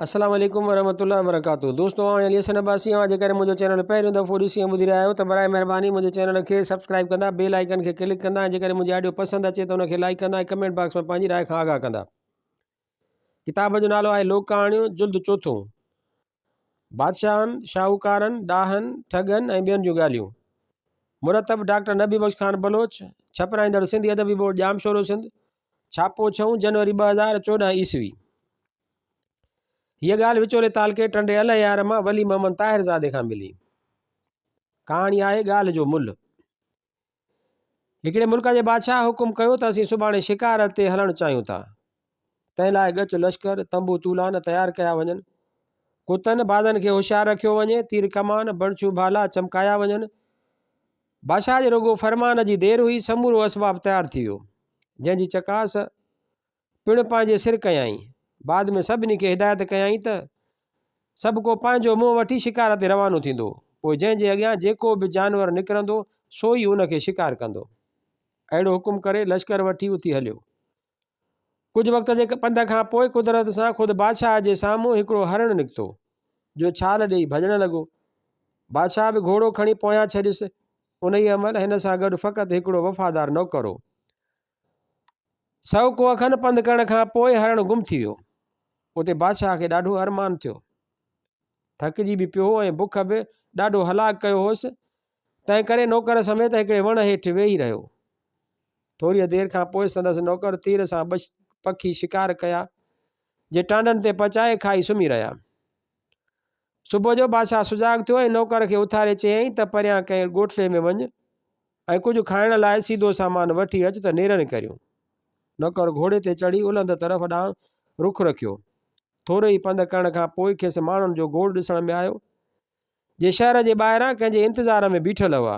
السلام عليڪم ورحمة الله وبرڪاته دوستو آئون علي حسن عباسي آهيان جيڪڏهن منهنجو چينل پهريون دفعو ڏسي ۽ ٻڌي رهيا آهيو ته براء مهرباني منهنجي چينل کي سبسڪرائب ڪندا بيل آئيڪن کي ڪلڪ ڪندا ۽ جيڪڏهن منهنجي آڊيو پسند اچي ته ان کي لائيڪ ڪندا ۽ ڪمينٽ باڪس ۾ پنهنجي راء کان آگاهه ڪندا ڪتاب جو نالو آهي لوڪ ڪهاڻيون جلد چوٿون بادشاهن شاهوڪارن ڏاهن ٺڳن ۽ ٻين جون ڳالهيون مرتب ڊاڪٽر نبي بخش خان بلوچ ڇپرائيندڙ سنڌي ادبي بورڊ ڄامشورو سنڌ ڇاپو ڇهون جنوري ٻه هزار چوڏهن عيسوي هيء ڳالهه وچولي تعلقي ٽنڊي الهيار مان ولي محمد طاهرزادي کان ملي. ڪهاڻي آهي ڳالهه جو ملهه. هڪڙي ملڪ جي بادشاهه حڪم ڪيو ته اسين سڀاڻي شڪار تي هلڻ چاهيون ٿا. تنهن لاء ڳچ لشڪر، تنبو تولان تيار ڪيا وڃن. ڪتن، بازن کي هوشيار رکيو وڃي، تير ڪمان، بڻڇون ڀالا چمڪايا وڃن. بادشاهه جي رڳو فرمان جي دير هئي، سمورو اسباب تيار ٿي ويو، جنهن جي چڪاس پڻ پنهنجي سر ڪيائين. بعد ۾ سڀني کي هدايت ڪيائين ته، سڀ ڪو پنهنجو منهن وٺي شڪار تي روانو ٿيندو، پوء جنهن جي اڳيان جيڪو به جانور نڪرندو، سو ئي ان کي شڪار ڪندو. اهڙو حڪم ڪري لشڪر وٺي اٿي هليو. ڪجهه وقت جي پنڌ کان پوء قدرت سان خود بادشاهه جي سامهون هڪڙو هرڻ نڪتو، جو ڇال ڏيئي ڀڄڻ لڳو. بادشاهه به گهوڙو کڻي پويان ڇڏيس. انهيء مهل هن سان گڏ فقط هڪڙو وفادار نوڪر هو. سؤ ڪوهه کن پنڌ ڪرڻ کان پوء هرڻ گم ٿي ويو. اتي بادشاهه کي ڏاڍو ارمان ٿيو. ٿڪجي به پيو هو ۽ بک به ڏاڍو هلاڪ ڪيو هوس، تنهن ڪري نوڪر سميت هڪڙي وڻ هيٺ ويهي رهيو. ٿوريء دير کان پوء سندس نوڪر تير سان ٻه پکي شڪار ڪيا، جي ٽانڊن تي پچائي کائي سمهي رهيا. صبح جو بادشاهه سجاڳ ٿيو ۽ نوڪر کي اٿاري چيائين ته پريان ڪنهن ڳوٺڙي ۾ وڃ ۽ ڪجهه کائڻ لاء سيڌو سامان وٺي اچ ته نيرن ڪريون. نوڪر گهوڙي تي چڙهي الهند طرف ڏانهن رخ رکيو. ٿورو ئي پنڌ ڪرڻ کان پوء کيس ماڻهن جو گوڙ ڏسڻ ۾ آيو، جي شهر جي ٻاهران ڪنهن جي انتظار ۾ بيٺل هئا.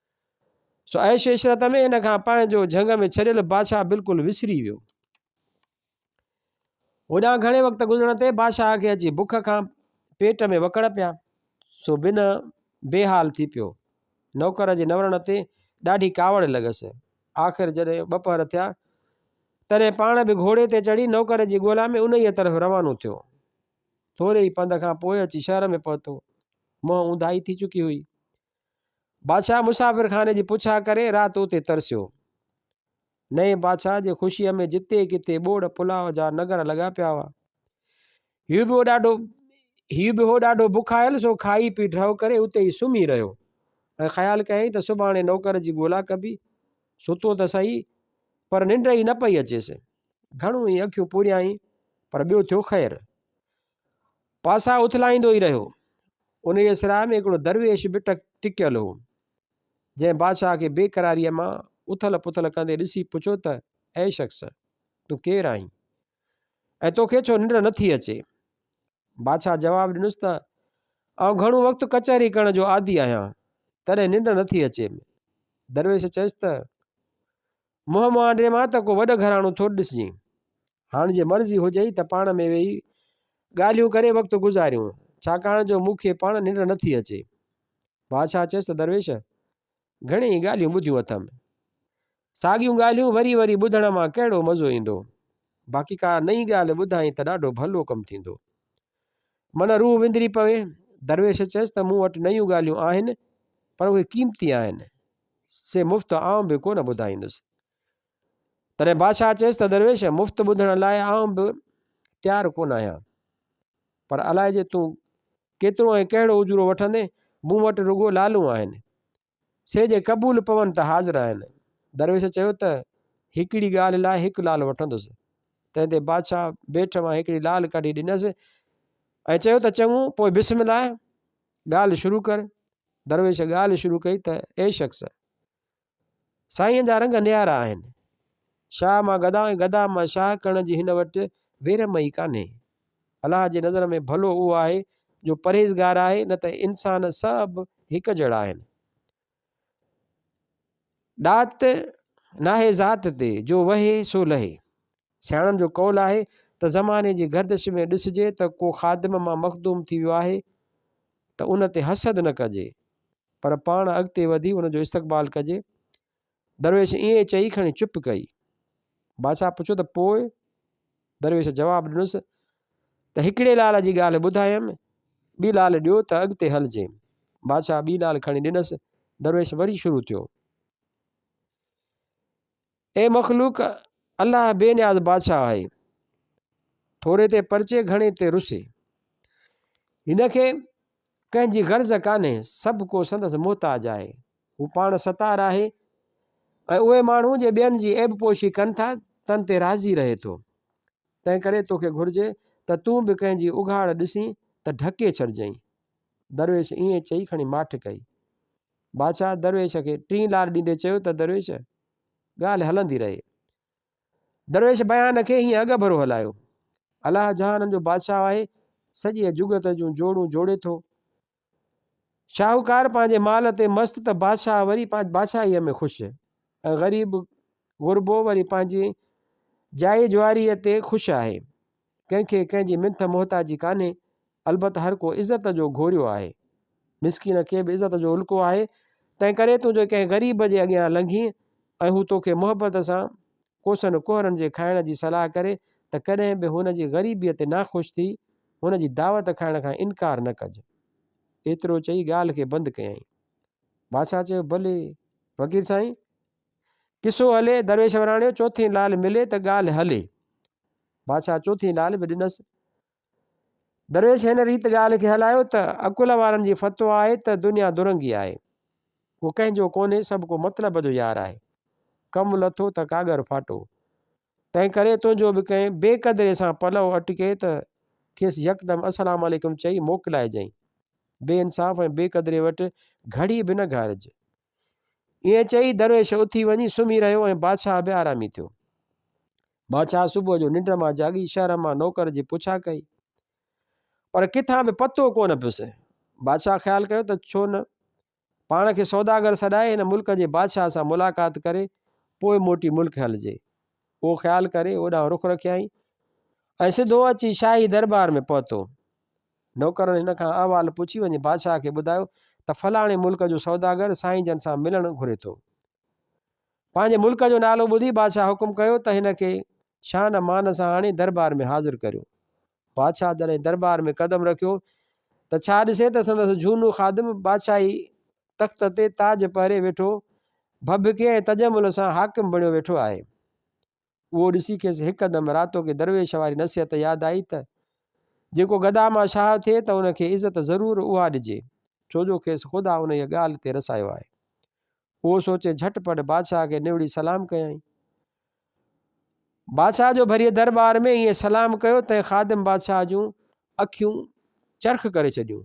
سو عيش عشرت ۾ ان کان پنهنجو جهنگ ۾ ڇڏيل بادشاهه بلڪل وسري ويو. هوڏانهن گهڻي وقت گذرڻ تي بادشاهه کي اچي بک کان پيٽ ۾ وڪڙ پيا سو بنهه بي حال ٿي پيو. نوڪر جي نورڻ تي ڏاڍي ڪاوڙ لڳس. آخر جڏهن ٻه پهر ٿيا تڏهن پاڻ به گهوڙي تي چڙهي نوڪر جي ڳولا ۾ انهيء طرف روانو ٿيو. ٿوري ئي پنڌ کان پوء اچي شهر ۾ پهتو. منهن اونداهي ٿي چڪي هئي. بادشاهه مسافر خاني جي پڇا ڪري رات اتي ترسيو نئين بادشاهه جي خوشيء ۾ جتي ڪٿي ٻوڙ پلاء جا نگر لڳا پيا هئا هيو به ڏاڍو هيو به هو ڏاڍو بکايل سو کائي پي ڊهو ڪري اتي ئي سمهي رهيو ۽ خيال ڪيائين ته سڀاڻي نوڪر جي ڳولا ڪبي ستو ته سهي پر ننڊ ئي نه پئي اچيس گهڻو ئي اکيون پوريائين پر ٻيو ٿيو خير پاسا اٿلائيندو ئي رهيو. انهيء سراء ۾ هڪڙو درويش به ٽڪيل هو، جنهن بادشاهه کي بيقراريء مان اٿل پٿل ڪندي ڏسي پڇيو ته، اي شخص! تون ڪير آهين؟ ۽ توکي ڇو ننڊ نه ٿي اچي؟ بادشاهه جواب ڏنس ته، آئون گهڻو وقت ڪچهري ڪرڻ جو عادي آهيان، تڏهن ننڊ نه ٿي اچي. درويش چيس ته، منهن مهانڊي مان ته ڪو وڏ گهراڻو ٿو ڏسجين. هاڻ جي مرضي هجئي ته پاڻ ۾ ويهي ڳالهيون ڪري وقت گذاريون، ڇاڪاڻ جو مون کي پاڻ ننڊ نٿي اچي. بادشاهه چيس ته درويش! گهڻي ئي ڳالهيون ٻڌيون اٿم. ساڳيون ڳالهيون وري وري ٻڌڻ مان ڪهڙو مزو ايندو. باقي ڪا نئين ڳالهه ٻڌائين ته ڏاڍو ڀلو ڪم ٿيندو. من روح وندري پوي. درويش چيس ته مون وٽ نيون ڳالهيون آهن پر اهي قيمتي آهن. سي مفت آئون به ڪونه ٻڌائيندس. تڏهن بادشاهه چيس ته درويش مفت ٻڌڻ لاء آئون به تيار ڪونه آهيان. پر الائجي تون ڪيترو ۽ ڪهڙو اجورو وٺندين، مون وٽ رڳو لالون آهن. سي جي قبول پون ته حاضر آهن. درويش چيو ته، هڪڙي ڳالهه لاء هڪ لعل وٺندس. تنهن تي بادشاهه بيٺ مان هڪڙي لعل ڪڍي ڏنس ۽ چيو ته چڱو، پوء بسم الله، ڳالهه شروع ڪر. درويش ڳالهه شروع ڪئي ته، اي شخص! سائين جا رنگ نيارا آهن. شاهه مان گدا ۽ گدا مان شاهه ڪرڻ جي هن وٽ ويرم ئي ڪانهي. الله جي نظر ۾ ڀلو اهو آهي جو پرهيزگار آهي نه ته انسان سڀ هڪ جهڙا آهن. ڏات ناهي ذات تي جو وهي سو لهي. سياڻن جو قول آهي ته زماني جي گردش ۾ ڏسجي ته ڪو خادم مان مخدوم ٿي ويو آهي ته ان تي حسد نه ڪجي پر پاڻ اڳتي وڌي ان جو استقبال ڪجي درويش ائين چئي کڻي چپ ڪئي. بادشاهه پڇيو ته پوء؟ درويش جواب ڏنس ته هڪڙي لعل جي ڳالهه ٻڌايم، ٻي لعل ڏيو ته اڳتي هلجي. بادشاهه ٻي لعل کڻي ڏنس. درويش وري شروع ٿيو. اي مخلوق! الله بي نياز بادشاهه آهي. ٿوري تي پرچي گهڻي تي رسي. هن کي ڪنهن جي غرض ڪانهي، سڀ ڪو سندس محتاج آهي. هو پاڻ ستار آهي ۽ اهي ماڻهو جي ٻين جي عيب پوشي ڪن ٿا تن تي راضي رهي ٿو. تنهن ڪري توکي گهرجي ته تون به ڪنهن جي اگهاڙ ڏسين ته ڍڪي ڇڏجئين. درويش ائين چئي کڻي ماٺ ڪئي. بادشاهه درويش کي ٽين لار ڏيندي چيو ته درويش ڳالهه هلندي رهي. درويش بيان کي هيئن اڳڀرو هلايو. الله جهانن جو بادشاهه آهي، سڄيء جڳت جون جوڙون جوڙي ٿو. شاهوڪار پنهنجي مال تي مست ته بادشاهه وري پنهنجي بادشاهيء ۾ خوش ۽ غريب غربو وري پنهنجي جائي جواريء تي خوش آهي. ڪنهن کي ڪنهن جي منٿ محتاجي ڪانهي، البت هر ڪو عزت جو گهوريو آهي. مسڪين کي به عزت جو الڪو آهي، تنهنڪري تون جي ڪنهن غريب جي اڳيان لنگهين ۽ هو توکي محبت سان ڪوسن ڪهرن جي کائڻ جي صلاح ڪري ته ڪڏهن به هن جي غريبيء تي ناخوش ٿي هن جي دعوت کائڻ کان انڪار نه ڪج. ايترو چئي ڳالهه کي بند ڪيائين. بادشاهه چيو، ڀلي فقير سائين! قصو هلي، درويش وراڻيو، چوٿين لعل ملي ته ڳالهه هلي. بادشاهه چوٿين لعل به ڏنس. درويش هن ريت ڳالهه کي هلايو ته عقل وارن جي فتويٰ آهي ته دنيا درنگي آهي. ڪو ڪنهن جو ڪونهي، سڀ ڪو مطلب جو يار آهي. ڪم لٿو ته ڪاڳر ڦاٽو. تنهن ڪري تنهنجو به ڪنهن بي قدري سان پلئو اٽڪي ته کيس يڪدم السلام عليڪم چئي موڪلائجئين. بي انصاف ۽ بي قدري وٽ گهڙي به نه گهارج. ائين چئي درويش اٿي وڃي سمهي رهيو ۽ بادشاهه به آرامي ٿيو. بادشاهه صبح جو ننڊ مان جاڳي شهر مان نوڪر جي پڇا ڪئي. پر ڪٿان به پتو ڪونه پيس. بادشاهه خيال ڪيو ته ڇو نه پاڻ کي سوداگر سڏائي هن ملڪ جي بادشاهه سان ملاقات ڪري پوء موٽي ملڪ هلجي. اهو خيال ڪري اوڏانهن رخ رکيائين ۽ سڌو اچي شاهي درٻار ۾ پهتو. نوڪرن هن کان احوال پڇي وڃي بادشاهه کي ٻڌايو ته فلاڻي ملڪ جو سوداگر سائين جن سان ملڻ گهري ٿو. پنهنجي ملڪ جو نالو ٻڌي بادشاهه حڪم ڪيو ته هن کي شان امان سان آڻي درٻار ۾ حاضر ڪريو. بادشاهه جڏهن درٻار ۾ قدم رکيو ته ڇا ڏسي ته سندس جهونو خادم بادشاهي تخت تي تاج پهري ويٺو ڀڀڪي ۽ تجمل سان حاڪم بڻيو ويٺو آهي. اهو ڏسي کيس هڪدم راتو ڪي درويش واري نصيحت ياد آئي ته جيڪو گدا مان شاهه ٿئي ته ان کي عزت ضرور اها ڏجي ڇو جو کيس خدا انهيء ڳالهه تي رسايو آهي. اهو سوچي جهٽ پٽ بادشاهه کي نوڙي سلام ڪيائين. بادشاهه جو ڀريء درٻار ۾ ائين سلام ڪيو تنهن خادم بادشاهه جون اکيون چرخ ڪري ڇڏيون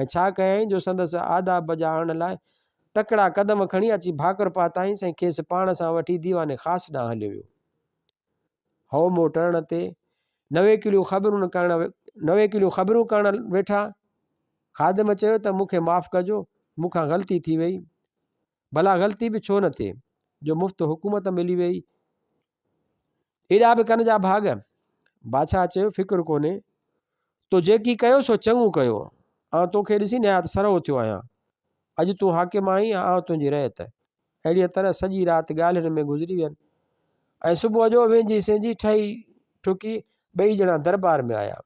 ۽ ڇا ڪيائين جو سندس آداب بجا آڻڻ لاء تڪڙا قدم کڻي اچي ڀاڪر پاتائينس ۽ کيس پاڻ سان وٺي ديوان خاص ڏانهن هليو ويو هو مون ٽرڻ تي نويڪليون خبرون ڪرڻ نويڪليون خبرون ڪرڻ ويٺا خادم چيو ته مون کي معاف ڪجو مون کان غلطي ٿي وئي ڀلا غلطي به ڇو نه ٿئي جو مفت حڪومت ملي وئي ايڏا به ڪن جا ڀاڳ بادشاهه چيو فڪر ڪونهي تو جيڪي ڪيو سو چڱو ڪيو آن توکي ڏسي نهايت سرهو ٿيو آهيان اڄ تون حاڪم آهين آن تنهنجي رعيت اهڙيء طرح سڄي رات ڳالهين ۾ گذري وين ۽ صبح جو وينجهي سينجهي ٺهي ٺڪي ٻئي ڄڻا دربار ۾ آيا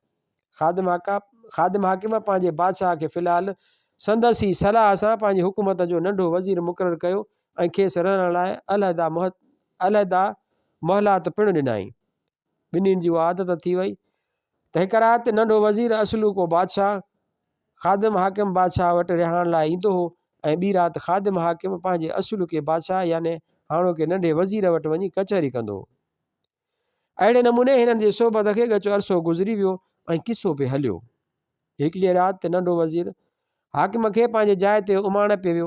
خادم آقا، خادم حاڪم پنهنجي بادشاهه کي في الحال سندس ئي صلاح سان پنهنجي حڪومت جو ننڍو وزير مقرر ڪيو ۽ کيس رهڻ لاء علحده علحده محلات پڻ ڏنائين. ٻنهين جي اها عادت ٿي وئي ته هڪ رات ننڍو وزير اصلو ڪو بادشاهه خادم حاڪم بادشاهه وٽ رهاڻ لاء ايندو هو ۽ ٻي رات خادم حاڪم پنهنجي اصلو ڪي بادشاهه يعني هاڻوڪي ننڍي وزير وٽ وڃي ڪچهري ڪندو هو. اهڙي نموني هنن جي صحبت کي ڳچو عرصو گذري ويو ۽ قصو به هليو. هڪڙيء رات تي ننڍو وزير حاڪم کي پنهنجي جاء تي اماڻ پي ويو.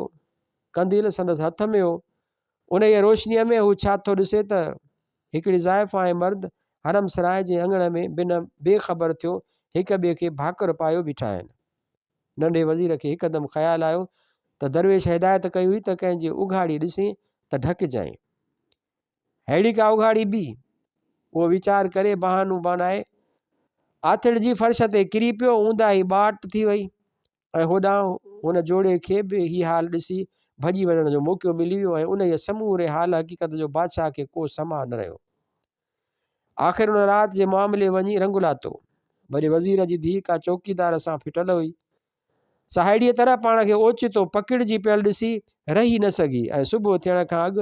قنديل سندس هٿ ۾ هو. انهيء روشنيء ۾ هو ڇا ٿو ڏسي ته هڪڙي زائفا ۽ مرد حرم سراء جي اڱڻ ۾ بنهه بي خبر ٿيو هڪ ٻئي کي ڀاڪر پايو بيٺا آهن. ننڍي وزير کي هڪدم خيال آيو ته درويش هدايت ڪئي هئي ته ڪنهن جي اگهاڙي ڏسين ته ڍڪجانء. ههڙي ڪا اگهاڙي بي؟ اهو ويچار ڪري بهانو بڻائي آٿڙ جي فرش تي ڪري پيو، اونداهي ٻاٽ ٿي وئي ۽ هوڏانهن هن جوڙي کي به هي حال ڏسي ڀڄي وڃڻ جو موقعو ملي ويو ۽ انهيء سموري حال حقيقت جو بادشاهه کي ڪو سماء نه رهيو. آخر ان رات جي معاملي وڃي رنگ لاتو. وڏي وزير جي ڌيء ڪا چوڪيدار سان ڦٽل هئي، سا اهڙيء طرح پاڻ کي اوچتو پڪڙجي پيل ڏسي رهي نه سگهي ۽ صبح ٿيڻ کان اڳ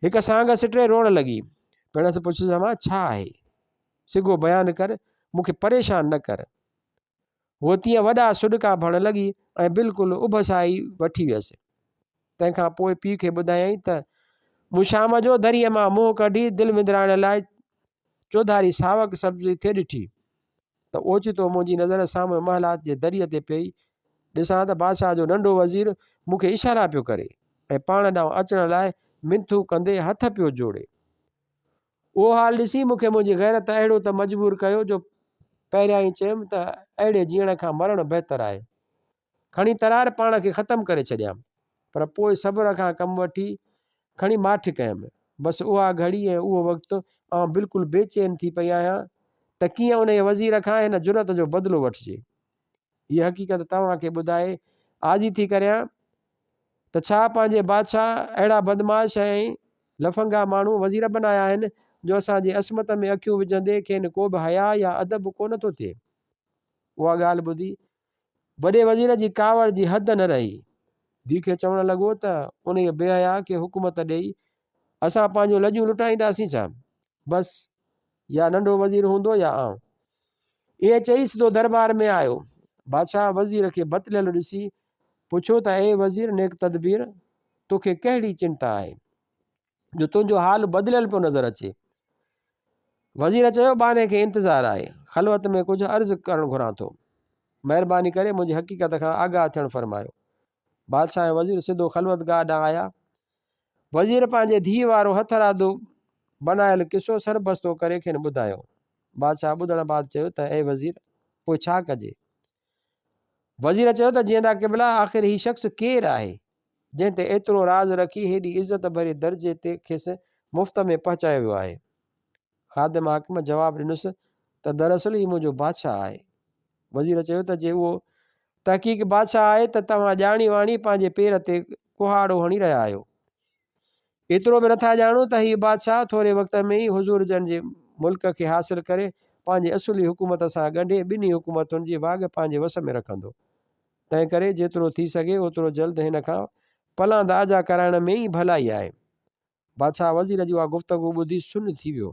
هڪ سانگ سٽي روئڻ لڳي. پڻس پڇيس امان ڇا آهي؟ سگهو بيان ڪر، مون کي پريشان نه ڪر. هوء تيئن وڏا سڏڪا ڀڻڻ لڳي ۽ بلڪل اڀسائي وٺي ويس. تنهن کان پوء پيء کي ٻڌايائين ته مون شام جو دريء مان منهن ڪڍي دل وندرائڻ لاء چوڌاري ساوڪ سبزي ٿي ڏٺي. ته اوچتو منهنجي نظر سامهون محلات جي دريء تي پئي ڏسان ته بادشاهه جو ننڍو وزير مون کي اشارا پيو ڪري ۽ پاڻ ڏانهن اچڻ لاء منٿون ڪندي هٿ پيو جوڙي. اهو حال ڏسي مون کي منهنجي غيرت اهڙو ته مجبور ڪيو جو پهريائين چيم ته اهڙي جيئڻ کان مرڻ بهتر آهي. کڻي ترار پاڻ کي ختم ڪري ڇڏيام، پر پوء صبر کان ڪم وٺي کڻي ماٺ ڪيم. بس اها گهڙي ۽ اهو وقت آئون بلڪل بي چين ٿي پئي آهيان ته ڪيئن انهيء وزير کان هن جرئت جو بدلو وٺجي. هيء حقيقت توهان کي ٻڌائي آجي ٿي ڪريان ته ڇا پنهنجي بادشاهه اهڙا بدمعاش ۽ لڦنگا ماڻهو وزير بنايا آهن جو اسان جي عصمت ۾ اکيون وجهندي کين ڪو به حياء يا ادب ڪو نه ٿو ٿئي. اها ڳالهه ٻڌي وڏي وزير جي ڪاوڙ جي حد نه رهي. ديکي چوڻ لڳو ته انهيء بي حياء کي حڪومت ڏيئي اسان پنهنجون لڄون لٽائينداسين ڇا؟ بس، يا ننڍو وزير هوندو يا آئون. ائين چئي سڌو درٻار ۾ آيو. بادشاهه وزير کي بتليل ڏسي پڇيو ته اي وزير نيڪ تدبير، توکي ڪهڙي چنتا آهي؟ جو تنهنجو حال بدليل پيو نظر اچي وزير چيو باني کي انتظار آهي خلوت ۾ ڪجهه عرض ڪرڻ گهران ٿو مهرباني ڪري منهنجي حقيقت کان آگاهه ٿيڻ فرمايو بادشاهه ۽ وزير سڌو خلوت گاهه ڏانهن آيا وزير پنهنجي ڌيء وارو هٿ رادو بنايل قصو سربستو ڪري کين ٻڌايو بادشاهه ٻڌڻ بعد چيو ته اي وزير پوء ڇا ڪجي وزير چيو ته جيئندا قبلا آخر هي شخص ڪير آهي جنهن تي ايترو راز رکي هيڏي عزت ڀري درجي تي کيس مفت ۾ پهچايو ويو آهي خادم حاڪم جواب ڏنس ته دراصل هي منهنجو بادشاهه آهي وزير چيو ته جي اهو تحقيق بادشاهه آهي ته توهان ڄاڻي واڻي پنهنجي پير تي ڪهاڙو هڻي رهيا آهيو ايترو به نٿا ڄاڻون ته هي بادشاهه ٿوري وقت ۾ ئي حضور جن جي ملڪ کي حاصل ڪري پنهنجي اصولي حڪومت سان ڳنڍي ٻنهي حڪومتن جي واڳ پنهنجي وس ۾ رکندو. تنهن ڪري جيترو ٿي سگهي اوترو جلد هن کان پلاند آجا ڪرائڻ ۾ ئي ڀلائي آهي. بادشاهه وزير جي اها گفتگو ٻڌي سن ٿي ويو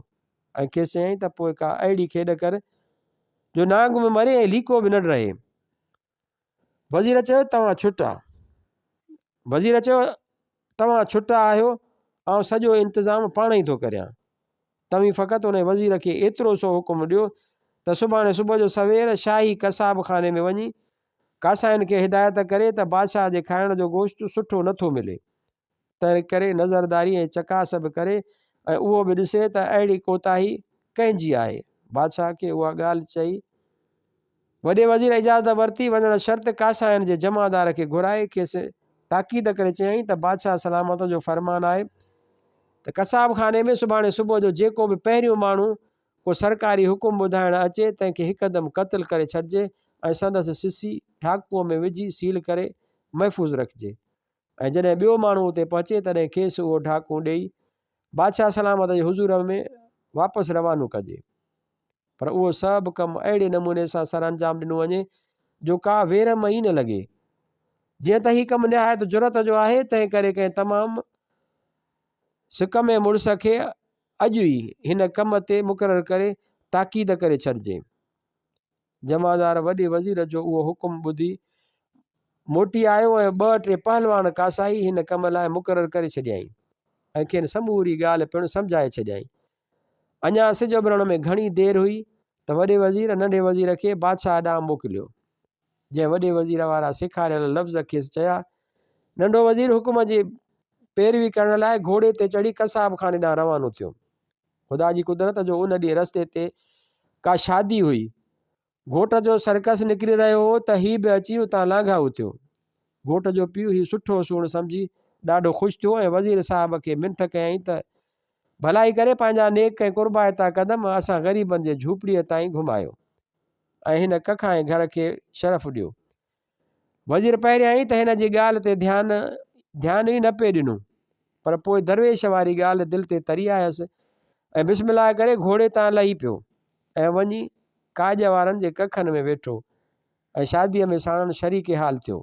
۽ کيس چيائين ته پوء ڪا اهڙي کيڏ ڪر جو نانگ به مري ۽ ليڪو به نڙ رهي. وزير چيو توهان ڇٽا وزير چيو توهان ڇٽا آهيو آئون سڄو انتظام پاڻ ئي ٿو ڪريان توهين فقط ان وزير کي ايترو سو حڪم ڏيو ته سڀاڻي صبح جو سوير شاهي قصاب خاني ۾ وڃي ڪاسائين کي هدايت ڪري ته بادشاهه جي کائڻ جو گوشت سٺو نٿو ملي تنهن ڪري نظرداري ۽ چڪاس به ڪري ۽ اهو به ڏسي ته اهڙي ڪوتاهي ڪنهن جي آهي. بادشاهه کي اها ڳالهه چئي وڏي وزير اجازت ورتي وڃڻ شرط ڪاسائين جي جمعدار کي گهرائي کيس تاڪيد ڪري چيائين ته بادشاهه سلامت جو فرمان آهي ته قصاب خاني ۾ سڀاڻي صبح جو جيڪو به پهريون ماڻهو ڪو سرڪاري حڪم ٻڌائڻ اچي تنهن کي هڪدم قتل ڪري ڇڏجي ۽ سندس سسي ڍاڪوء ۾ وجهي سيل ڪري محفوظ رکجي ۽ جڏهن ٻيو ماڻهو اتي پهچي تڏهن کيس اهو ڍاڪون ڏيئي بادشاهه سلامت جي حضور ۾ واپس روانو ڪجي پر اهو سڀ ڪم اهڙي نموني سان سر انجام ڏنو وڃي جو ڪا ويرم ئي نه لڳي جيئن ته هي ڪم نهايت جرت جو آهي تنهن ڪري ڪنهن تمام سڪ ۾ مڙس کي اڄ ئي هن ڪم تي مقرر ڪري تاڪيد ڪري ڇڏجي جمعدار وڏي وزير جو اهو حڪم ٻڌي موٽي آيو ۽ ٻه ٽي پهلوان ڪاسائي هن ڪم لاء مقرر ڪري ڇڏيائين ۽ کين سموري ڳالهه پڻ سمجهائي ڇڏيائين. اڃا سج اڀرڻ ۾ گهڻي دير هئي ته وڏي وزير ننڍي وزير کي بادشاهه ڏانهن موڪليو، جنهن وڏي وزير وارا سيکاريل لفظ کيس چيا. ننڍو وزير حڪم جي پيروي ڪرڻ لاء گهوڙي تي چڙهي قصاب خاني ڏانهن روانو ٿيو. خدا جي قدرت جو ان ڏينهن رستي تي ڪا شادي هئي. گهوٽ جو سرڪس نڪري رهيو هو ته هي به اچي اتان لانگهائو اٿيو. گهوٽ جو پيء هي سٺو سوڻ سمجهي ڏاڍو خوش ٿيو ۽ وزير صاحب کي منٿ ڪيائين ته ڀلائي ڪري پنهنجا نيڪ ۽ قربائتا قدم اسان غريبن جي جهوپڙيء تائين گهمايو ۽ هن ڪک ۽ گهر کي شرف ڏيو. وزير پهريائين ته هن جي ڳالهه تي ڌيان ڌيان ئي نه پئي ڏنو، پر پوء درويش واري ڳالهه دل تي تري آيس ۽ بسم الله ڪري گهوڙي تان لهي پيو ۽ وڃي ڪاڄ وارن جي ڪکن ۾ ويٺو ۽ شاديء ۾ ساڻن شريڪ حال ٿيو.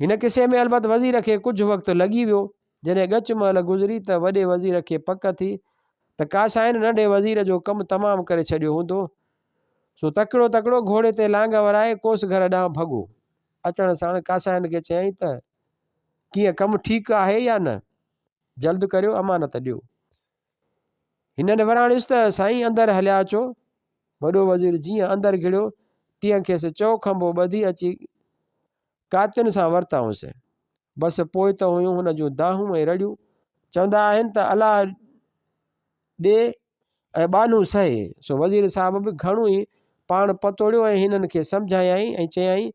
هن قصي ۾ البت وزير کي ڪجهه وقت لڳي ويو، جڏهن ڳچ مهل گذري ته وڏي وزير کي پڪ ٿي ته ڪاسائين ننڍي وزير جو ڪم تمام ڪري ڇڏيو هوندو سو تڪڙو تڪڙو گهوڙي تي لانگهه ورائي ڪوس گهر ڏانهن ڀڳو. اچڻ ساڻ ڪاسائين کي چيائين ته، ڪيئن ڪم ٺيڪ آهي يا نه؟ جلد ڪريو امانت ڏيو. هنن وراڻيس ته، سائين اندر هليا اچو. وڏو وزير جيئن اندر گهڙيو، تيئن کيس چؤ کنڀو ٻڌي اچي ڪاتين سان ورتائون سين. بس پوء ته هيون هن جون دانهون ۽ رڙيون. چوندا آهن ته الله ڏي ۽ ٻانهون سهي. سو وزير صاحب به گهڻو ئي پاڻ پتوڙيو ۽ هنن کي سمجهايائين ۽ چيائين،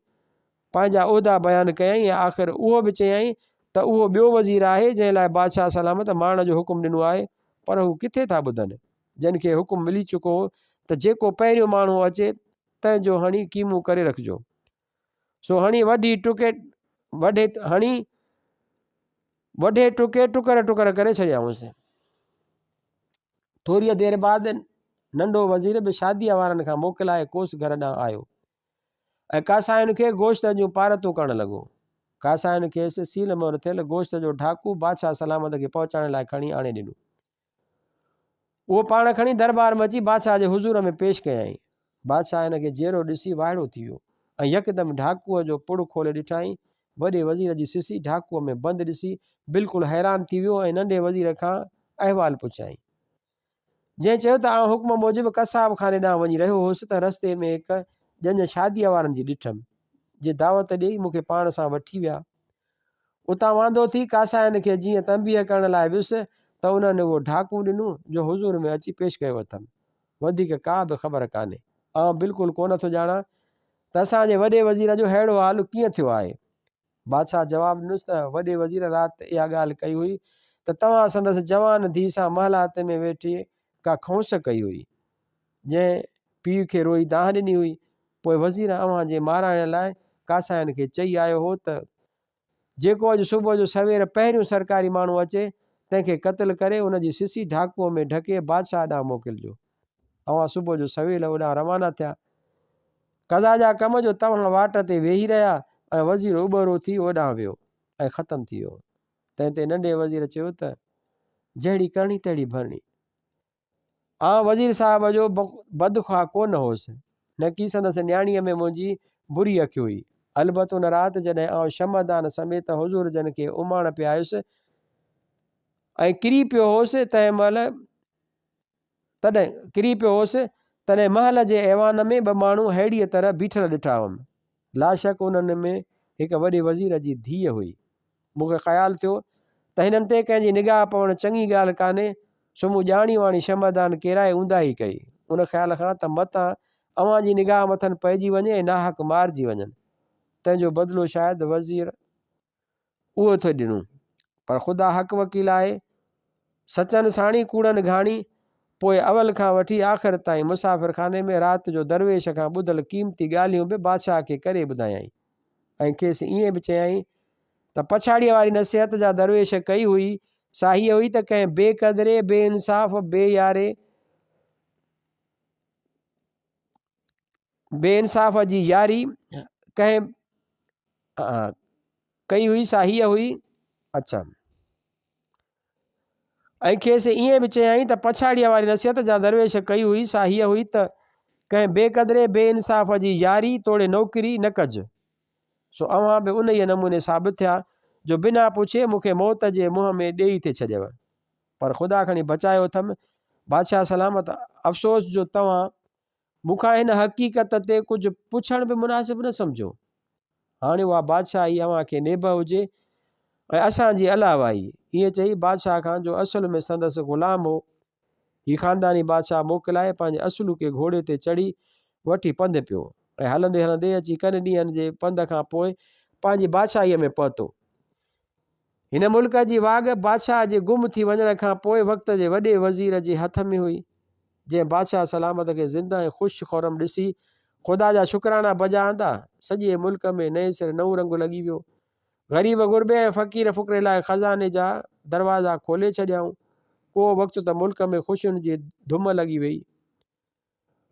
پنهنجا عهدا بيان ڪيائين ۽ آخر اهو به چيائين ته اهو ٻيو وزير آهي جنهن لاء بادشاهه سلامت مارڻ جو حڪم ڏنو آهي پر هو ڪٿي ٿا ٻڌن جن کي حڪم ملي چڪو هو ته جيڪو پهريون ماڻهو اچي تنهن جو هڻي قيمو ڪري رکجو. سو هڻي وڍي ٽڪي وڍي هڻي وڍي ٽڪي ٽڪر ٽڪر ڪري ڇڏيائونس ٿوريء دير بعد ننڍو وزير به شاديء وارن کان موڪلائي ڪوس گهر ڏانهن آيو ۽ ڪاسائن کي گوشت جون پارتون ڪرڻ لڳو ڪاسائن کيس سيل مور ٿيل گوشت جو ڍاڪو بادشاهه سلامت کي پهچائڻ لاء کڻي آڻي ڏنو اهو پاڻ کڻي دربار ۾ اچي بادشاهه جي حضور ۾ پيش ڪيائين. بادشاهه هن کي جيئرو ڏسي وائڙو ٿي ويو ۽ يڪدم ڍاڪوء جو پڙ کولي ڏٺائين. وڏي وزير جي سسي ڍاڪوء ۾ بند ڏسي بلڪل حيران ٿي ويو ۽ ننڍي وزير کان احوال پڇيائين. جنهن چيو ته آئون حڪم موجب قصاب خاني ڏانهن وڃي رهيو هوس ته رستي ۾ هڪ ڄڃ شاديء وارن جي ڏٺم، جي دعوت ڏيئي مون کي پاڻ سان وٺي ويا. اتان واندو ٿي ڪاسائين کي جيئن تنبيهه ڪرڻ لاء ويس ته انهن اهو ڍاڪو ڏنو جو حضور ۾ اچي پيش ڪيو اٿم. وڌيڪ ڪا به خبر ڪانهي. آئون بلڪل ڪونه ٿو ڄاڻان ته اسان جي وڏي وزير جو ههڙو حال ڪيئن ٿيو آهي. بادشاهه جواب ڏنس ته وڏي وزير رات اها ڳالهه ڪئي هئي ته توهان سندس جوان ڌيء سان محلات ۾ ويٺي ڪا کونس ڪئي هئي. جنهن پيء کي روئي دانهن ڏني هئي، پوء وزير اوهان جي مارائڻ لاء ڪاساين کي چئي آيو هو ته، جيڪو اڄ صبح جو سوير پهريون سرڪاري ماڻهو اچي، تنهن کي قتل ڪري ان جي سسي ڍاڪوء ۾ ڍڪي بادشاهه ڏانهن موڪلجو. اوهان صبح جو سويل اوڏانهن روانا ٿيا. قضا جا ڪم جو توهان واٽ تي ويهي رهيا ۽ وزير اٻهرو ٿي اوڏانهن ويو ۽ ختم ٿي ويو. تنهن تي ننڍي وزير چيو ته، جهڙي ڪرڻي تهڙي ڀرڻي. آئون وزير صاحب جو بدخواه ڪونه هوس، نڪي سندس نياڻيء ۾ منهنجي بري اک هئي. البت ان رات جڏهن آئون شمع دان سميت حضور جن کي اماڻ پيايس ۽ ڪري پيو هوس، تنهن مهل تڏهن ڪري پيو هوس، تڏهن محل جي ايوان ۾ ٻه ماڻهو ههڙيء طرح بيٺل ڏٺا هئم، لاشڪ انهن ۾ هڪ وڏي وزير جي ڌيء هئي. مون کي خيال ٿيو ته هنن تي ڪنهن جي نگاهه پوڻ چڱي ڳالهه ڪانهي، سو مون ڄاڻي واڻي شمعدان ڪيرائي اونداهي ڪئي، ان خيال کان ته متان اوهان جي نگاهه مٿن پئجي وڃي ۽ ناحق مارجي وڃن، تنهن جو بدلو شايد وزير اهو ٿو ڏنو. پر خدا حق وڪيل آهي، سچن ساڻي ڪوڙن گهاڻي، پوء اول کان وٺي آخر تائين مسافر خاني ۾ رات جو درويش کان ٻڌل قيمتي ڳالهيون به بادشاهه کي ڪري ٻڌايائين ۽ کيس ائين به چيائين ته پڇاڙيء واري نصيحت جا درويش ڪئي هئي سا هيء هئي ته ڪنهن بي قدري، بي انصاف، بي ياري، بي انصاف جي ياري ڪنهن ڪئي هئي سا هيء هئي اڇا ۽ کيس ائين به چيائين ته پڇاڙيء واري نصيحت جا درويش ڪئي هئي سا هيء هئي ته ڪنهن بي قدري بي انصاف جي ياري توڙي نوڪري نه ڪج سو اوهان به انهيء نموني ثابت ٿيا جو بنا پڇي مون کي موت جي منهن ۾ ڏيئي ٿي ڇڏيو پر خدا کڻي بچايو اٿم. بادشاهه سلامت، افسوس جو توهان مون کان هن حقيقت تي ڪجهه پڇڻ به مناسب نه سمجهيو. هاڻي اها بادشاهي اوهان کي نيبه هجي ۽ اسان جي علاوه ئي. ائين چئي بادشاهه کان جو اصل ۾ سندس غلام هو، هي خانداني بادشاهه موڪلائي پنهنجي اصلوڪي گهوڙي تي چڙهي وٺي پنڌ پيو ۽ هلندي هلندي اچي ڪن ڏينهن جي پنڌ کان پوء پنهنجي بادشاهيء ۾ پهتو. هن ملڪ جي واڳ بادشاهه جي گم ٿي وڃڻ کان پوء وقت جي وڏي وزير جي هٿ ۾ هئي، جنهن بادشاهه سلامت کي زنده ۽ خوش خرم ڏسي خدا جا شڪرانا بجا آندا. سڄي ملڪ ۾ نئين سر نئون رنگ لڳي ويو. غريب غربي ۽ فقير فقري لاء خزاني جا دروازا کولي ڇڏيائون. ڪو وقت ته ملڪ ۾ خوشين جي ڌم لڳي ويئي.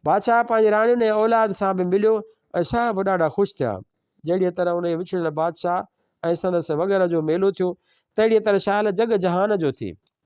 بادشاهه پنهنجي راڻين ۽ اولاد سان به مليو ۽ سا به ڏاڍا خوش ٿيا. جهڙيء طرح انهيء وڇڙيل بادشاهه ۽ سندس وڳهره جو ميلو ٿيو، تهڙيء طرح شال جڳ جهان جو ٿئي.